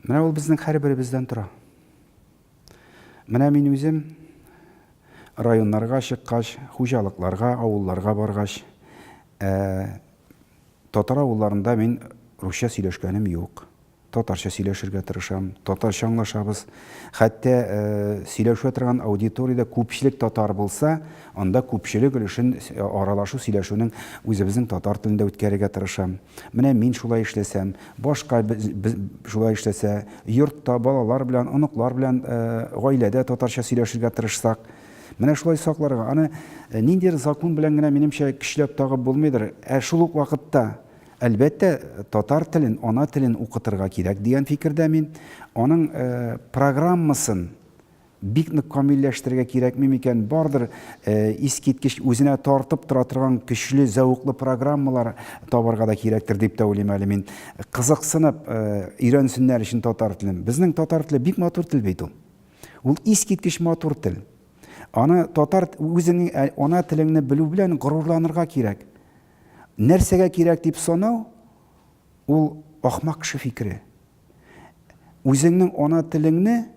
Менә ул безнең һәрберебездән тора. Менә мин үзем районнарга чыккач, хуҗалыкларга, авылларга баргач, ә, татар авылларында мин русча сөйләшкәнем юк. Татарча сөйләшергә тырышам, татарча аңлашабыз. Хәтта ә, сөйләшә торган аудиториядә күпчелек татар булса, анда күпчелек өлешен аралашу, сөйләшүнең үзебезнең татар телендә үткәрергә тырышам. Менә мин шулай эшләсәм, башка шулай эшләсә, йортта балалар белән, оныклар белән, гаиләдә татарча сөйләшергә тырышсак, менә шулай сакларга. Аны ниндидер закон белән генә, минемчә, көчләп тагып булмыйдыр. Ә шул ук вакытта, әлбәттә, татар телен, ана телен укытырга кирәк дигән фикердә мин. Аның программасын Бик нык камилләштерергә кирәкми микән? Бардыр искиткеч үзенә тартып тора торган көчле, зәвыклы программалар табарга да кирәктер дип тә уйлыйм әле мин. Кызыксынып өйрәнсеннәр өчен татар телен. Безнең татар теле бик матур тел бит ул. Ул искиткеч матур тел. Аны татар үзеңнең ана телеңне белү белән горурланырга кирәк. Нәрсәгә кирәк дип санау ул ахмак кеше фикере. Үзеңнең ана телеңне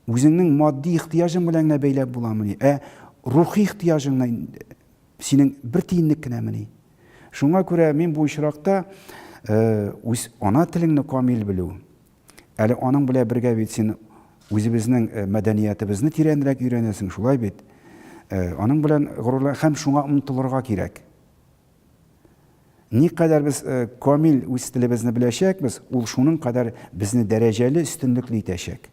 Үзеңнең матди ихтыяҗың белән генә бәйләп буламыни? Ә рухи ихтыяҗың синең бер тиенлек кенәмени? Шуңа күрә мин бу очракта үз ана телеңне камил белү, әле аның белән бергә бит син үзебезнең мәдәниятебезне тирәнрәк өйрәнәсең, шулай бит? Аның белән горурлан һәм шуңа омтылырга кирәк. Никадәр без камил үз телебезне беләчәкбез, ул шуның кадәр безне дәрәҗәле, өстенлекле итәчәк.